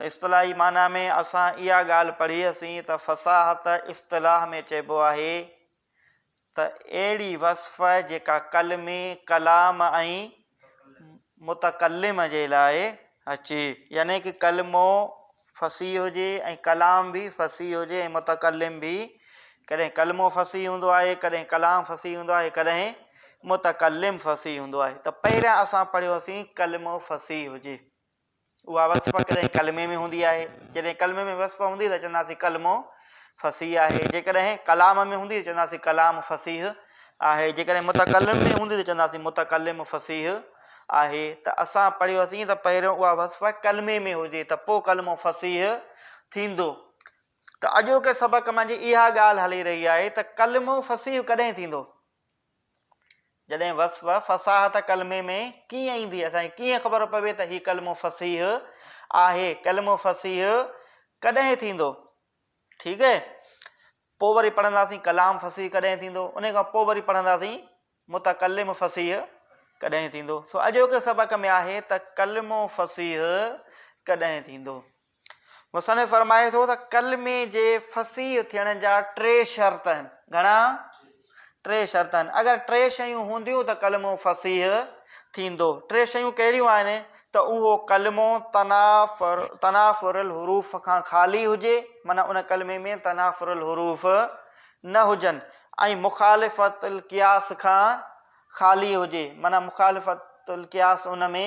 اصطلاحي معنيٰ ۾ اسان اها ڳالهه پڙهي هئسين ته فصاحت اصطلاح ۾ چئبو آهي ته اهڙي وصف جيڪا قلمي ڪلام ۽ متڪلم جي لاء اچي يعني ڪلمو فصيح هجي ۽ ڪلام به فصيح هجي ۽ متڪلم به ڪڏهن ڪلمو فصيح هوندو آهي ڪڏهن ڪلام فصيح هوندو آهي ڪڏهن متڪلم فصيح هوندو آهي ته پهريان اسان پڙهيوسين ڪلمو فصيح هجي اها وصف ڪڏهن ڪلمي ۾ هوندي آهي جڏهن ڪلمي ۾ وصف هوندي ته چونداسين ڪلمو فصيح آهي جيڪڏهن ڪلام ۾ هوندي ته چونداسين ڪلام فصيح آهي جيڪڏهن متڪلم ۾ هوندي ته چونداسين متڪلم فصيح آهي ته اسان پڙهيوسين ته پهريون اها وصف ڪلمي ۾ هجي ته پوء ڪلمو فصيح ٿيندو ته اڄوڪي سبق منجهه اها ڳالهه هلي رهي آهي ته ڪلمو فصيح ڪڏهن ٿيندو جڏهن وصف فصاحت ڪلمي ۾ ڪيئن ايندي اسان کي ڪيئن خبر پوي ته هي ڪلمو فصيح آهي ڪلمو فصيح ڪڏهن ٿيندو ٺيڪ آهي پوء وري پڙهنداسين ڪلام فصيح ڪڏهن ٿيندو، انهي کان پوء وري پڙهنداسين متڪلم فصيح ڪڏهن ٿيندو. سو اڄوڪي سبق ۾ آهي ته ڪلمو فصيح ڪڏهن ٿيندو. مصنف فرمائي ٿو ته ڪلمي جي فصيح ٿيڻ جا ٽي شرط آهن. گهڻا؟ ٽي شرط آهن، اگر ٽي شيون هونديون ته ڪلمو فصيح ٿيندو. ٽي شيون ڪهڙيون آهن ته اهو ڪلمو تنافر تنافر الحروف کان خالي هجي، معنيٰ ان ڪلمي ۾ تنافر الحروف نه هجن ۽ مخالفت القياس کان خالي هجي، معنيٰ مخالفت القياس ان ۾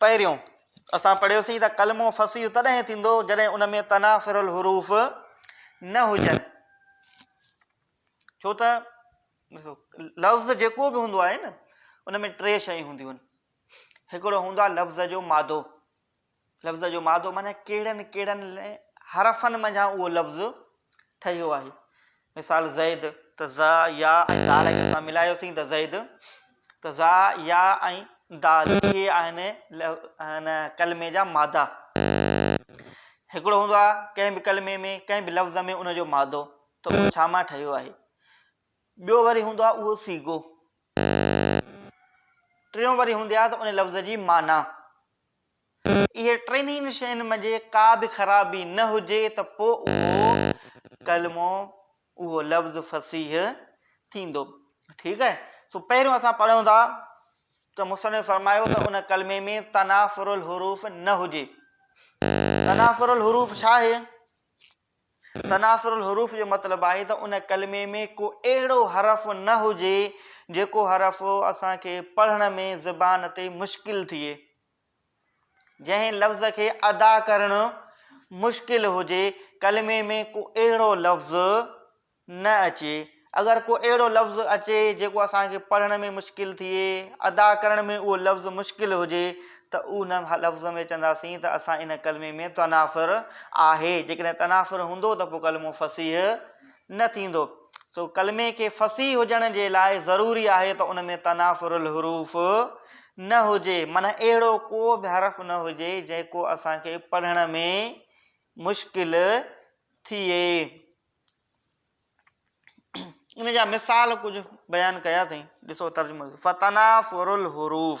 پهريون، اسان پڙهيوسين ته ڪلمو فصيح تڏهن ٿيندو جڏهن ان ۾ تنافر الحروف نه هجن. ڇو ته لفظ جيڪو به هوندو آهي نه ان ۾ ٽي شيون هونديون آهن. هڪڙو هوندو آهي لفظ جو مادو. لفظ جو مادو معنيٰ ڪهڙن ڪهڙن حرفن منجهان اهو لفظ ٺهيو آهي. مثال، زيد، ته زا، يا ۽ دال اگر اسان ملايوسين ته زيد، ته زا، يا ۽ دال اهي آهن هن ڪلمي جا مادا. هڪڙو هوندو آهي ڪنهن به ڪلمي ۾ ڪنهن به لفظ ۾ ان جو مادو ته اهو ڇا مان ٺهيو آهي. ٻيو وري هوندو آهي اهو صيغو. ٽيون وري هوندي آهي ته ان لفظ جي معنيٰ. اهي ٽنهي شين منجهه ڪا به خرابي نه هجي ته پوء اهو ڪلمو اهو لفظ فصيح ٿيندو ٺيڪ آهي سو پهريون اسان پڙهيون ٿا ته مصنف فرمايو ته ان ڪلمي ۾ تنافر الحروف نه هجي تنافر الحروف ڇا آهي تنافر الحروف جو مطلب آهي ته ان ڪلمي ۾ ڪو اهڙو حرف نه هجي جيڪو حرف اسان کي پڙهڻ ۾ زبان تي مشڪل ٿئي جنهن لفظ کي ادا ڪرڻ مشڪل هجي، ڪلمي ۾ ڪو اهڙو لفظ نه اچي. اگر ڪو اهڙو لفظ اچي جيڪو اسان کي پڙهڻ ۾ مشڪل ٿئي، ادا ڪرڻ ۾ اهو لفظ مشڪل هجي ته ان لفظ ۾ چونداسين ته اسان ان ڪلمي ۾ تنافر آهي، جيڪڏهن تنافر هوندو ته پوء ڪلمو فصيح نه ٿيندو، سو ڪلمي کي فصيح هجڻ جي لاء ضروري آهي ته ان ۾ تنافر الحروف نه هجي، معنيٰ اهڙو ڪو به حرف نه هجي جيڪو اسان کي پڙهڻ ۾ مشڪل ٿئي. ان جا مثال ڪجهه بيان ڪيا اٿئي، ڏسو ترجمو ڏسو، فتنافر الحروف.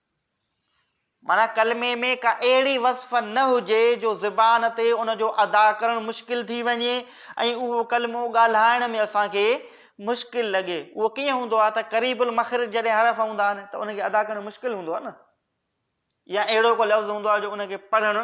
معنيٰ ڪلمي ۾ ڪا اهڙي وصف نه هجي جو زبان تي ان جو ادا ڪرڻ مشڪل ٿي وڃي ۽ اهو ڪلمو ڳالهائڻ ۾ اسان کي مشڪل لڳي. اهو ڪيئن هوندو آهي ته قريب المخرج جڏهن حرف هوندا آهن ته ان کي ادا ڪرڻ مشڪل هوندو آهي نه يا اهڙو ڪو لفظ هوندو آهي جو ان کي پڙهڻ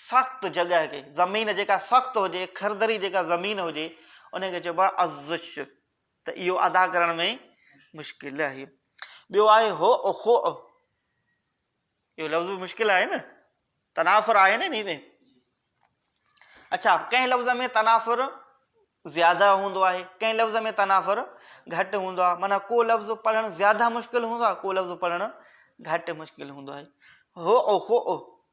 سخت جڳهه کي، زمين جيڪا سخت هجي، کردري جيڪا زمين هجي، ان کي چئبو آهي ازش ته اهو ادا ڪرڻ ۾ مشڪل آهي. ٻيو آهي هوء خؤ، اهو لفظ به مشڪل آهي نه، تنافر آهي نه انهي ۾. اڇا ڪنهن لفظ ۾ تنافر زياده هوندو آهي، ڪنهن لفظ ۾ تنافر گهٽ هوندو آهي، معنيٰ ڪو لفظ پڙهڻ زياده مشڪل هوندو آهي، ڪو لفظ پڙهڻ گهٽ مشڪل هوندو آهي. هوء خؤ،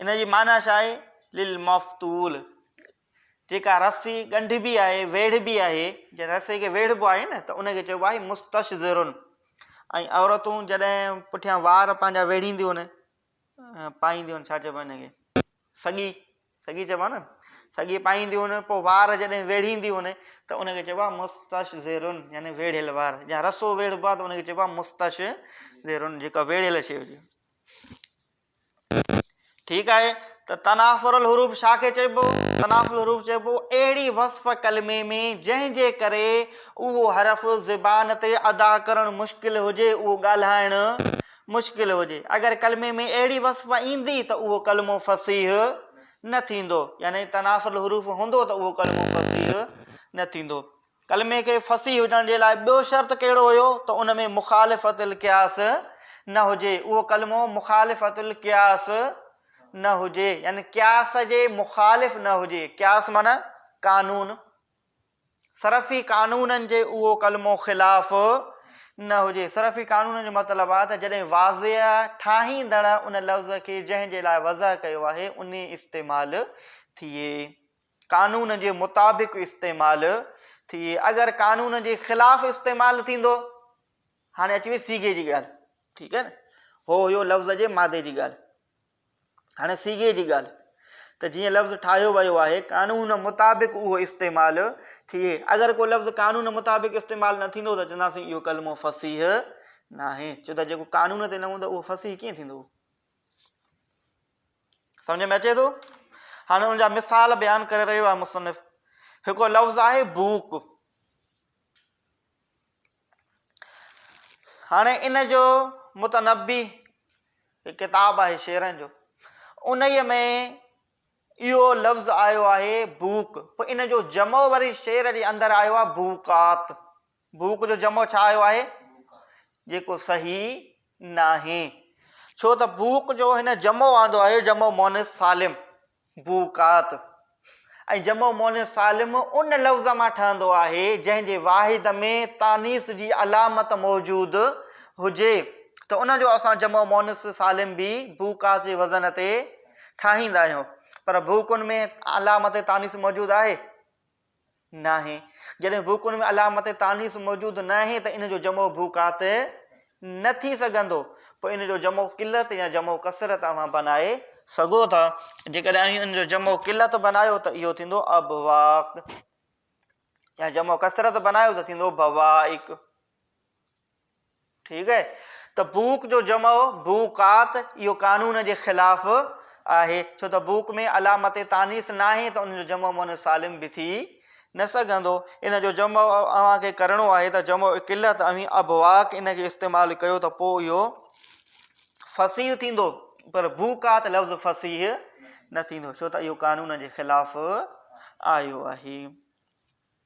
ان جي معنيٰ ڇا آهي؟ للمفتول، جيڪا رسي ڳنڍبي آهي، ويڙهبي آهي، جنهن رسي کي ويڙهبو آهي نه ته ان کي چئبو آهي مستشذر ۽ عورتون جڏهن پٺيان وار پنهنجا ويڙهينديون آهن پائينديون آهن ڇا چئبو آهي ان کي سڳي سڳي چئبو آهي نه سڳي پائينديون آهن پوء وار جڏهن ويڙهينديون آهن ته ان کي چئبو آهي مستشذر يعني ويڙهيل وار جا رسو ويڙهبو آهي ته ان کي چئبو آهي مستشذر جيڪا ويڙهيل شيء هجي ٺيڪ آهي ته تنافر الحروف ڇا کي چئبو؟ تنافر الحروف چئبو اهڙي وصف ڪلمي ۾ جنهن جي ڪري اهو حرف زبان تي ادا ڪرڻ مشڪل هجي اهو ڳالهائڻ مشڪل هجي اگر ڪلمي ۾ اهڙي وصف ايندي ته اهو ڪلمو فصيح نه ٿيندو يعني تنافر الحروف هوندو ته اهو ڪلمو فصيح نه ٿيندو ڪلمي کي فصيح هجڻ جي لاء ٻيو شرط ڪهڙو هيو ته ان ۾ مخالفت القياس نه هجي، اهو ڪلمو مخالفت القياس نه هجي يعني قياس جي مخالف نه هجي، قياس معنيٰ قانون، صرفي قانونن جي اهو ڪلمو خلاف نه هجي، صرفي قانونن جو مطلب آهي ته جڏهن واضح ٺاهيندڙ ان لفظ کي جنهن جي لاء وضع ڪيو آهي انهي استعمال ٿئي. قانون جي مطابق استعمال ٿئي اگر قانون جي خلاف استعمال ٿيندو هاڻي اچي وئي سيگي جي ڳالهه ٺيڪ آهي نه هو هيو لفظ جي مادي جي ڳالهه هاڻي سيگي جي ڳالهه ته جيئن لفظ ٺاهيو ويو آهي قانون مطابق اهو استعمال ٿئي اگر ڪو لفظ قانون مطابق استعمال نه ٿيندو ته چونداسين اهو ڪلمو فصيح ناهي ڇو ته جيڪو قانون تي نه هوندو اهو فصيح ڪيئن ٿيندو سمجهه ۾ اچي ٿو؟ هاڻي ان جا مثال بيان ڪري رهيو آهي مصنف. هڪڙو لفظ آهي بوڪ. هاڻي ان جو متنبي ڪتاب آهي شعرن جو انهيء ۾ اهو لفظ آيو آهي بوڪ پوء ان جو جمع وري شعر جي اندر آيو آهي بوڪات بوڪ جو جمع ڇا آيو آهي؟ جيڪو صحيح ناهي ڇو ته بوڪ جو هن جمع آندو آهي جمع مؤنث سالم بوڪات ۽ جمع مؤنث سالم ان لفظ مان ٺهندو آهي جنهن جي واحد ۾ تانيث جي علامت موجود هجي ته ان جو اسان جمع مؤنث سالم به بوڪات جي وزن تي ٺاهيندا آهيون پر بوڪن ۾ علامت تانيث موجود آهي ناهي. جڏهن ڀوڪن ۾ علامت تانيث موجود ناهي ته ان جو جمع ڀوڪات نه ٿي سگهندو. پوء ان جو جمع قلت يا جمع ڪثرت اوهان بنائي سگهو ٿا. جيڪڏهن اوهين ان جو جمع قلت بنايو ته اهو ٿيندو ابواق يا جمع ڪثرت بنايو ته ٿيندو بوائق. ٺيڪ آهي ته بوڪ جو جمع بوڪات اهو قانون جي خلاف آهي ڇو ته بوڪ ۾ علامت تانيث ناهي ته ان جو جمع مؤنث سالم به ٿي نه سگهندو ان جو جمع اوهان کي ڪرڻو آهي ته جمع قلت اوهين ابواڪ ان کي استعمال ڪيو ته پوء اهو فصيح ٿيندو پر بوڪات لفظ فصيح نه ٿيندو ڇو ته اهو قانون جي خلاف آيو آهي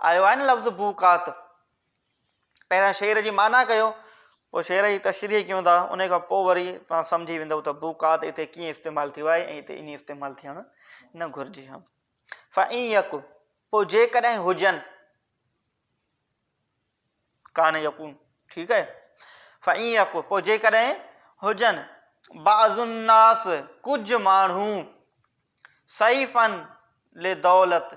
آيو آهي نه لفظ بوقات. پهريان شعر جي معنيٰ ڪيو پوء شعر جي تشريح ڪيون ٿا ان کان پوء وري توهان سمجهي ويندؤ ته بوقات هتي ڪيئن استعمال ٿيو آهي ۽ هتي ائين استعمال ٿيڻ نه گهرجي ها. فان يڪ پوء جيڪڏهن هجن ڪان يڪون ٺيڪ آهي فان يڪ پوء جيڪڏهن هجن بعض الناس ڪجهه ماڻهو سيفن لدولت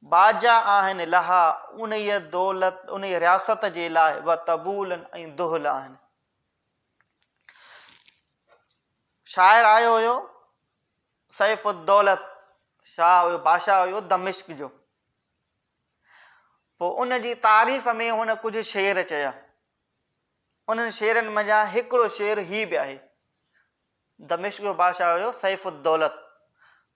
باجا آهن لها انهيء دولت انهيء رياست جي لاء و طبول ۽ دهل آهن. شاعر آيو هيو سيف الدولت شاهه هيو بادشاهه هيو دمشق جو پوء ان جي تعريف ۾ هن ڪجهه شعر چيا انهن شعرن منجهان هڪڙو شعر هي به آهي دمشق جو بادشاهه هيو سيف الدولت.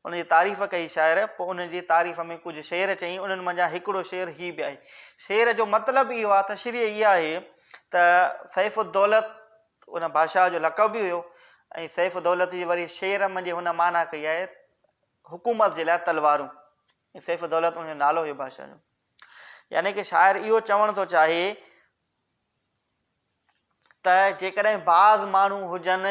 ان جي تعريف ڪئي شاعر پوء انهن جي تعريف ۾ ڪجهه شعر چيائين انهن منجهان هڪڙو شعر هي به آهي. شعر جو مطلب اهو آهي تشريح اها آهي ته سيف الدولت ان بادشاهه جو لقب به هيو ۽ سيف الدولت جي وري شعر منجهه هن معنيٰ ڪئي آهي حڪومت جي لاء تلوارون ۽ سيف الدولت ان جو نالو هيو بادشاهه جو يعني ڪه شاعر اهو چوڻ ٿو چاهي ته جيڪڏهن بعض ماڻهو هجن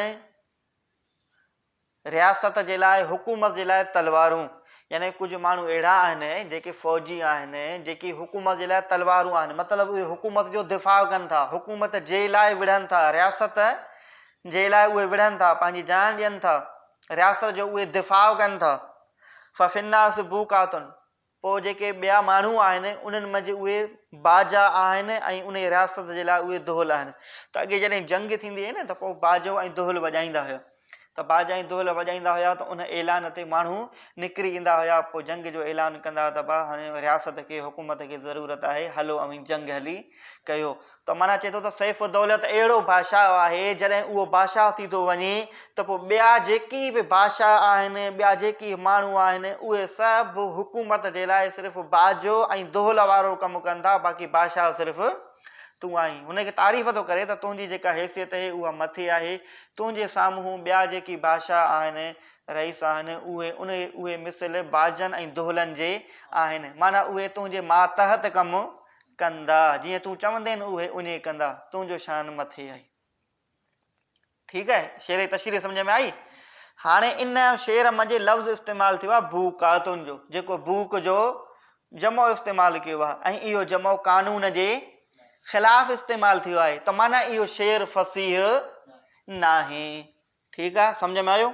رياست جي لاء حڪومت جي لاء تلوارون يعني ڪجهه ماڻهو اهڙا آهن جيڪي فوجي آهن جيڪي حڪومت جي لاء تلوارون آهن مطلب اهي حڪومت جو دفاع ڪن ٿا حڪومت جي لاء وڙهن ٿا رياست جي لاء اهي وڙهن ٿا پنهنجي جان ڏين ٿا رياست جو اهي دفاع ڪن ٿا ففناس بو ڪاتن پوء جيڪي ٻيا ماڻهو آهن انهن منجهه اهي باجا آهن ۽ انهي رياست جي لاء اهي دهل آهن ته اڳي جڏهن جنگ ٿيندي هئي نه ته پوء باجو ۽ دهل وڄائيندا هيا ته باجا ۽ دهل وڄائيندا هيا ته ان اعلان تي ماڻهو نڪري ايندا هيا پوء جنگ جو اعلان ڪندا ته با هاڻي رياست کي حڪومت کي ضرورت آهي هلو اوهين جنگ هلي ڪيو ته معنيٰ چئي ٿو ته سيف الدولت اهڙو بادشاهه آهي جڏهن اهو بادشاهه ٿي ٿو وڃي ته پوء ٻيا جيڪي به بادشاهه آهن، ٻيا جيڪي ماڻهو آهن، اهي سڀ حڪومت جي لاء صرف باجو ۽ دهل وارو ڪم ڪن ٿا، باقي بادشاهه صرف تون آهين. هن کي تعريف ٿو ڪري ته تنهنجي جيڪا حيثيت اهي اها مٿي آهي، تنهنجي سامهون ٻيا جيڪي بادشاهه آهن، رئيس آهن، اهي اهي مثل باجن ۽ دهلن جي آهن، معنيٰ اهي تنهنجي ماتحت ڪم ڪندا، جيئن تون چوندين اهي اڃي ڪندا، تنهنجو شان مٿي آهي. ٺيڪ آهي شعري تشريح سمجهه ۾ آئي. هاڻي ان شعر منجهه لفظ استعمال ٿيو آهي بوقاتن جو جيڪو بوق جو جمع استعمال ڪيو آهي ۽ اهو جمع قانون جي خلاف استعمال ٿيو آهي ته معنيٰ اهو شعر فصيح ناهي ٺيڪ آهي سمجهه ۾ آيو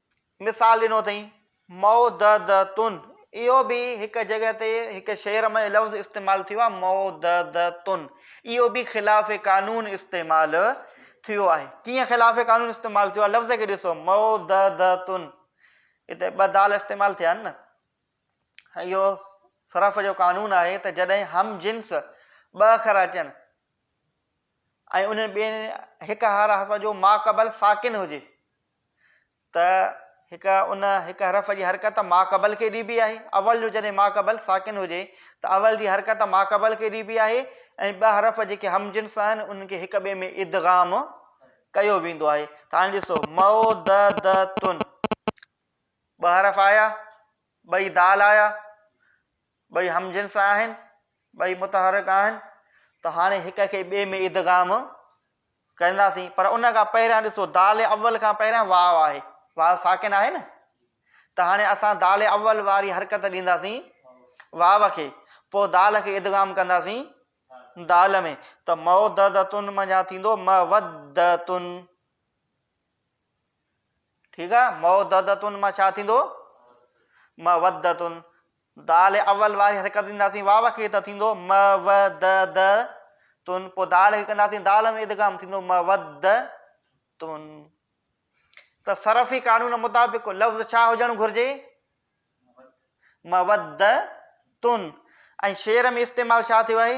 مثال ڏنو اٿئين، مئو د د تون، اهو به هڪ جڳهه تي هڪ شعر ۾ لفظ استعمال ٿيو آهي مئو د د تون، اهو به خلاف قانون استعمال ٿيو آهي. ڪيئن خلاف قانون استعمال ٿيو آهي لفظ کي ڏسو مئو د د تون، هتي ٻه دال استعمال ٿيا آهن نه. اهو صرف جو قانون آهي ته جڏهن هم جنس ٻه اکر اچن ۽ انهن ٻنهي هڪ هر حرف جو ماقبل ساڪن هجي ته هڪ ان هڪ حرف جي حرڪت ماقبل کي ڏبي آهي، اول جو جڏهن ماقبل ساڪن هجي ته اول جي حرڪت ماقبل کي ڏبي آهي ۽ ٻه حرف جيڪي هم جنس آهن انهن کي هڪ ٻئي ۾ ادغام ڪيو ويندو آهي ته هاڻي ڏسو موددتن ٻه حرف آيا ٻئي دال آيا ٻئي هم جنس آهن، ٻئي متحرڪ آهن ته هاڻي هڪ کي ٻئي ۾ ادغام ڪرنداسين پر ان کان پهريان ڏسو دال اول کان پهريان واو آهي واو ساڪن آهي نه ته هاڻي اسان دال اول واري حرڪت ڏينداسين واو کي پوء دال کي ادغام ڪنداسين دال ۾ ته موددتن منجهان ٿيندو مودتن ٺيڪ آ موددتن مان ڇا ٿيندو مودتن دال اول واري حرڪت ڏينداسين واو کي ته ٿيندو م و د د تن پوء دال کي ڪنداسين دال ۾ ادغام ٿيندو م و د تن ته صرفي قانون مطابق لفظ ڇا هجڻ گهرجي م و د تن ۽ شعر ۾ استعمال ڇا ٿيو آهي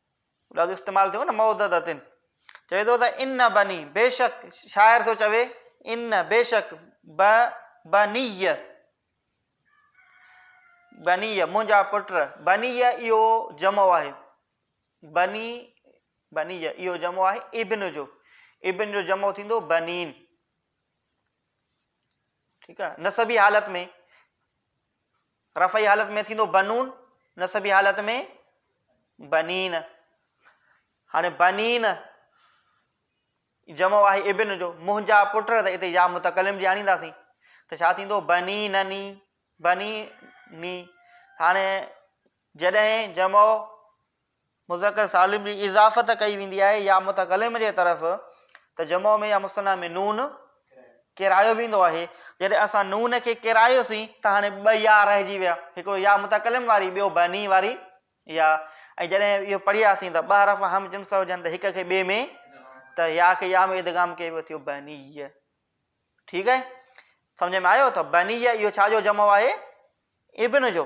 لفظ استعمال ٿيو نه موددتن چوي ٿو ته ان بني بيشڪ شاعر ٿو چوي ان بيشڪ ب بني بني منهنجا پٽ بني اهو جمع آهي بني بني اهو جمع آهي ابن جو ابن جو جمع ٿيندو بنين ٺيڪ آهي نسبي حالت ۾ رفعي حالت ۾ ٿيندو بنون، نصبي حالت ۾ بنين. هاڻي بنين جمع آهي ابن جو، منهنجا پٽ، ته اتي يا متڪلم جي آڻينداسين ته ڇا ٿيندو بني نني بني ني هاڻي جڏهن جمع مذڪر سالم جي اضافت ڪئي ويندي آهي يا متڪلم جي طرف ته جمع ۾ يا مثنيٰ ۾ نون ڪيرايو ويندو آهي، جڏهن اسان نون کي ڪيرايوسين ته هاڻي ٻه يا رهجي ويا، هڪڙو يا متڪلم واري ٻيو بني واري يا ۽ جڏهن اهو پڙهياسين ته ٻه حرف هم جنس هجن ته هڪ کي ٻئي ۾ ته يا کي يا ۾ ادغام ڪئي ويو ٿيو بني ٺيڪ آهي سمجھ ۾ آيو ته بني اهو ڇا جو جمع آهي ابن جو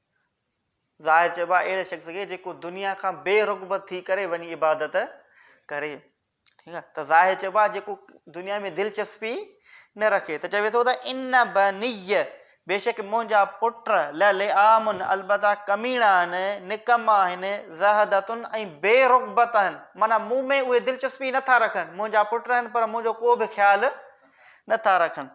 زاهد چئبو آهي اهڙي شخص کي جيڪو دنيا کان بي رغبت ٿي ڪري وڃي عبادت ڪري ٺيڪ آهي ته زاهد چئبو آهي جيڪو دنيا ۾ دلچسپي نه رکي ته چوي ٿو ته ان بني بيشڪ منهنجا پٽ لعامن البته ڪميڻا آهن نڪما آهن زهدتن ۽ بي رغبت آهن معنی مون ۾ اهي دلچسپي نٿا رکن منهنجا پٽ آهن پر منهنجو ڪو به خيال نٿا رکن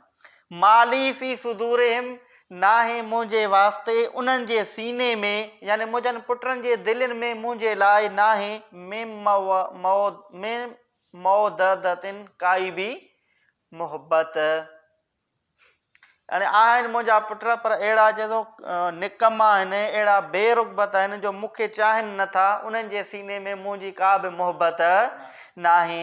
ما لي في صدورهم، ناهي منهنجي واسطي انهن جي سيني ۾، يعني منهنجن پٽن جي دلين ۾، منهنجي لاء ناهي، من مودده، ڪائي به محبت. يعني آهن منهنجا پٽ، پر اهڙا چئي ٿو نڪما آهن، اهڙا بي رغبت آهن، جو مون کي چاهين نه ٿا، انهن جي سيني ۾ منهنجي ڪا به محبت ناهي.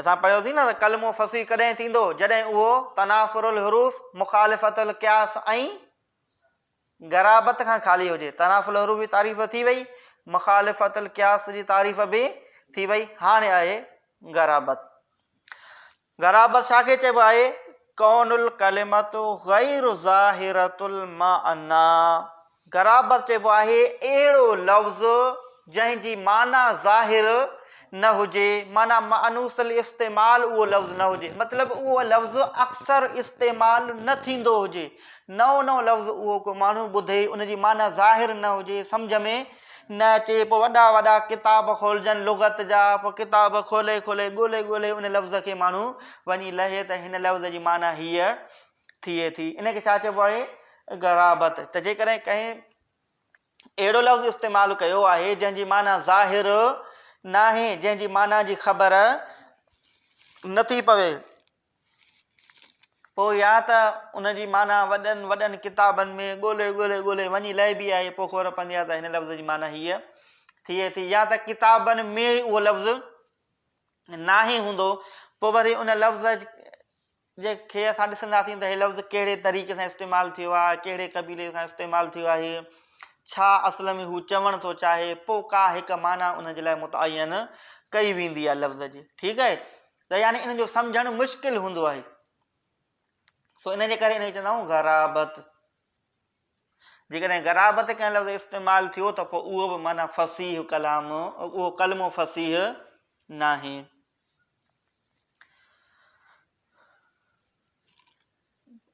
اسان پڙهيوسين نه ته ڪلمو فصيح ڪڏهن ٿيندو جڏهن اهو تنافر الحروف، مخالفت القياس ۽ غرابت کان خالي هجي. تنافر الحروف جي تعريف ٿي وئي، مخالفت القياس جي تعريف به ٿي وئي، هاڻي آهي غرابت. غرابت ڇا کي چئبو آهي؟ ڪون الڪلمة غير ظاهرة المعنيٰ، غرابت چئبو آهي اهڙو لفظ جنهن جي معنيٰ ظاهر نه هجي، معنيٰ مانوس الاستعمال اهو لفظ نه هجي، مطلب اهو لفظ اڪثر استعمال نه ٿيندو هجي، نئون نئون لفظ اهو ڪو ماڻهو ٻڌي ان جي معنيٰ ظاهر نه هجي، سمجهه ۾ نه اچي، پوء وڏا وڏا ڪتاب کولجن لغت جا، پوء ڪتاب کولي کولي، ڳولي ڳولي ان لفظ کي ماڻهو وڃي لهي ته هن لفظ جي معنيٰ هيء ٿئي ٿي. ان کي ڇا چئبو آهي؟ غرابت. ته جيڪڏهن ڪنهن اهڙو لفظ استعمال ڪيو آهي، جنهن جي معنيٰ ظاهر ناهي، جنهن جي معنيٰ جي خبر نٿي پوي، پوء يا ته ان جي معنيٰ وڏن وڏن ڪتابن ۾ ڳولهي ڳولهي ڳولهي وڃي لهبي آهي پوء خبر پوندي آهي ته هن لفظ جي معنيٰ هيء ٿئي ٿي يا ته ڪتابن ۾ ئي اهو لفظ ناهي هوندو پوء وري ان لفظ جي کي اسان ڏسنداسين ته هي لفظ ڪهڙي طريقي سان استعمال ٿيو آهي ڪهڙي قبيلي سان استعمال ٿيو آهي ڇا اصل ۾ هو چوڻ ٿو چاهي پوء ڪا هڪ معنيٰ ان جي لاء متعين ڪئي ويندي آهي لفظ جي ٺيڪ آهي ته يعني انهن جو سمجهڻ مشڪل هوندو آهي. سو ان جي ڪري ان کي چوندا آهيون غرابت. جيڪڏهن غرابت ڪنهن لفظ استعمال ٿيو ته پوء اهو به معنيٰ فصيح ڪلام اهو ڪلمو فصيح ناهي.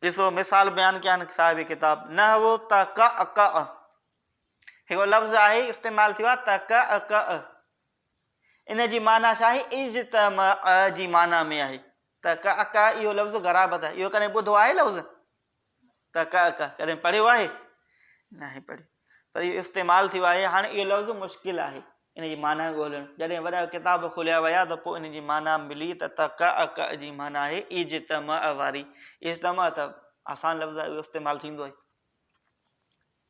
ڏسو مثال بيان ڪيا آهن صاحب ڪتاب نحو تڪ اڪ هڪ لفظ آهي استعمال ٿيو آهي تڪ اڪ ان جي معنيٰ ڇا آهي؟ اجتمع جي معنيٰ ۾ آهي. ته ڪئ ڪئ اهو لفظ غرابت آهي. اهو ڪڏهن ٻڌو آهي لفظ؟ ته ڪئ ڪئ ڪڏهن پڙهيو آهي؟ ناهي پڙهيو. پر اهو استعمال ٿيو آهي. هاڻي اهو لفظ مشڪل آهي ان جي معنيٰ ڳولڻ. جڏهن وڏا ڪتاب کوليا ويا ته پوء ان جي معنيٰ ملي ته ته ڪئ ڪئ جي معنيٰ آهي اجتمع واري. اجتمع ته آسان لفظ آهي اهو استعمال ٿيندو آهي.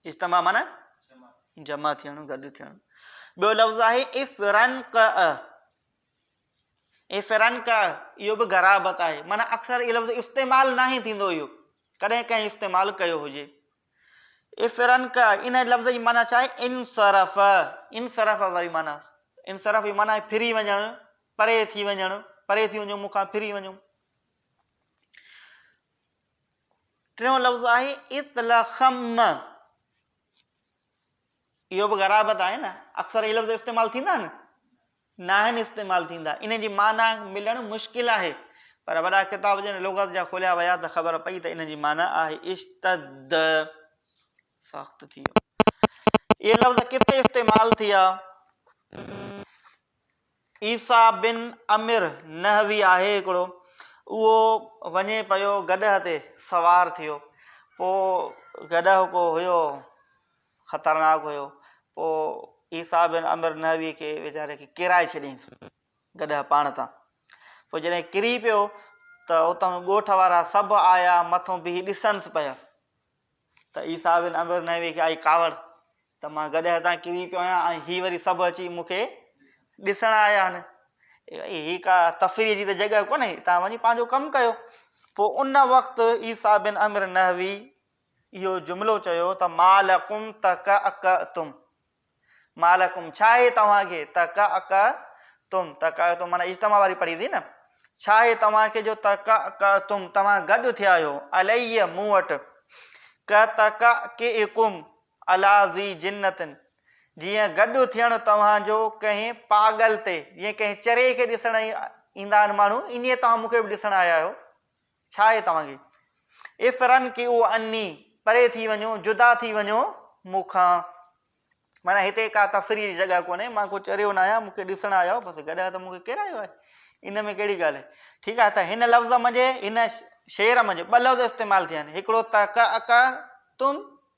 اجتماع معنيٰ جمع ٿيڻ، گڏ ٿيڻ. ٻيو لفظ آهي افرنقع، افرنقع اهو به غرابت آهي معنيٰ اڪثر اهو لفظ استعمال ناهي ٿيندو اهو ڪڏهن ڪنهن استعمال ڪيو هجي. افرنقع ان لفظ جي معنيٰ ڇا آهي انصرف، انصرف واري معنيٰ انصرف جي معنيٰ آهي ڦري وڃڻ، پري ٿي وڃڻ، پري ٿي وڃو مون کان ڦري وڃو. ٽيون لفظ آهي اطلخم. اهو به غرابت آهي نه، اڪثر هي لفظ استعمال ٿيندا آهن؟ ناهن استعمال ٿيندا، انهن جي معنيٰ ملڻ مشڪل آهي، پر وڏا ڪتاب جن لغت جا کوليا ويا ته خبر پئي ته انهن جي معنيٰ آهي اشتد، سخت ٿي ويو. اهي لفظ ڪٿي استعمال ٿيا؟ عيسيٰ بن عمر نحوي آهي هڪڙو، اهو وڃي پيو گڏهه تي سوار ٿيو، پوء گڏهه ڪو هيو خطرناڪ هيو، پوء عيسيٰ بن عمر نحوي کي ويچاري کي ڪيرائي ڇڏيائينس گڏهه پاڻ تان، پوء جڏهن ڪري پيو ته اتان ڳوٺ وارا سڀ آيا مٿو بيهي ڏسڻس پيا ته عيسيٰ بن عمر نحوي کي آئي ڪاوڙ، ته مان گڏهه تان ڪري پيو آهيان ۽ هي وري سڀ اچي مون کي ڏسڻ آيا آهن. ڀائي هي ڪا تفريح جي ته جڳهه ڪونهي، تان وڃي پنهنجو ڪم ڪيو. پوء ان وقت عيسيٰ بن عمرو نحوي اهو جملو چيو ته ما لڪم تڪعڪعتم، ما لڪم ڇاهي توهان کي تڪعڪعتم، تڪعڪعتم معنيٰ اجتماع واري پڙهي ٿي نه، ڇاهي توهان کي جو تڪعڪعتم توهان گڏ ٿيا آهيو عليّ مون وٽ، ڪتڪعڪعڪم الا ذي جنة جيئن گڏ اٿيڻ توهان جو ڪنهن پاڳل تي، جيئن ڪنهن چري کي ڏسڻ ايندا آهن ماڻهو، ائين توهان مون کي به ڏسڻ آيا آهيو. ڇا آهي توهان کي؟ افرنڪئو عني، پري ٿي وڃو، جدا ٿي وڃو مون کان. معنيٰ هتي ڪا تفريح جي جڳهه ڪونهي، مان ڪو چريو ناهيان، مون کي ڏسڻ آيا آهيو، بس گڏ ته مون کي ڪير آيو آهي، ان ۾ ڪهڙي ڳالهه آهي. ٺيڪ آهي ته هن لفظ منجهه، هن شعر منجهه ٻه لفظ استعمال ٿيا آهن، هڪڙو تڪ اڪ تم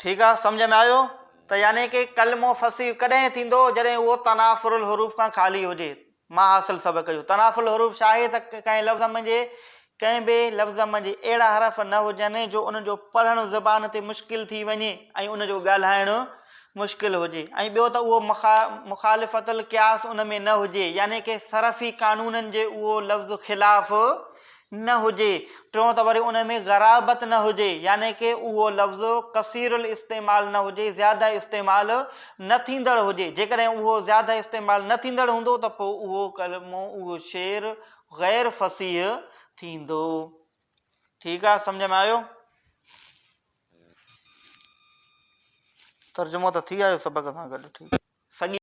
ٺيڪ آ سمجهه ۾ آيو ته يعني ڪي ڪلمو فصيح ڪڏهن ٿيندو جڏهن اهو تنافر الحروف کان خالي هجي مان حاصل سبق جو تنافر الحروف ڇا آهي ته ڪنهن لفظ منجهي ڪنهن به لفظ منجهي اهڙا حرف نه هجن جو ان جو پڙهڻ زبان تي مشڪل ٿي وڃي ۽ ان جو ڳالهائڻ مشڪل هجي ۽ ٻيو ته اهو مخالفت القياس ان ۾ نه هجي يعني ڪي صرفي قانونن جي اهو لفظ خلاف نه هجي، ٽيون ته وري ان ۾ غرابت نه هجي، يعني ڪه اهو لفظ ڪثير الاستعمال نه هجي، زياده استعمال نه ٿيندڙ هجي، جيڪڏهن اهو زياده استعمال نه ٿيندڙ هوندو ته پوء اهو ڪلمو، اهو شعر غير فصيح ٿيندو. ٺيڪ آ، سمجهه ۾ آيو؟ ترجمو ته ٿي آيو سبق سان گڏ، ٺيڪ. سڳي.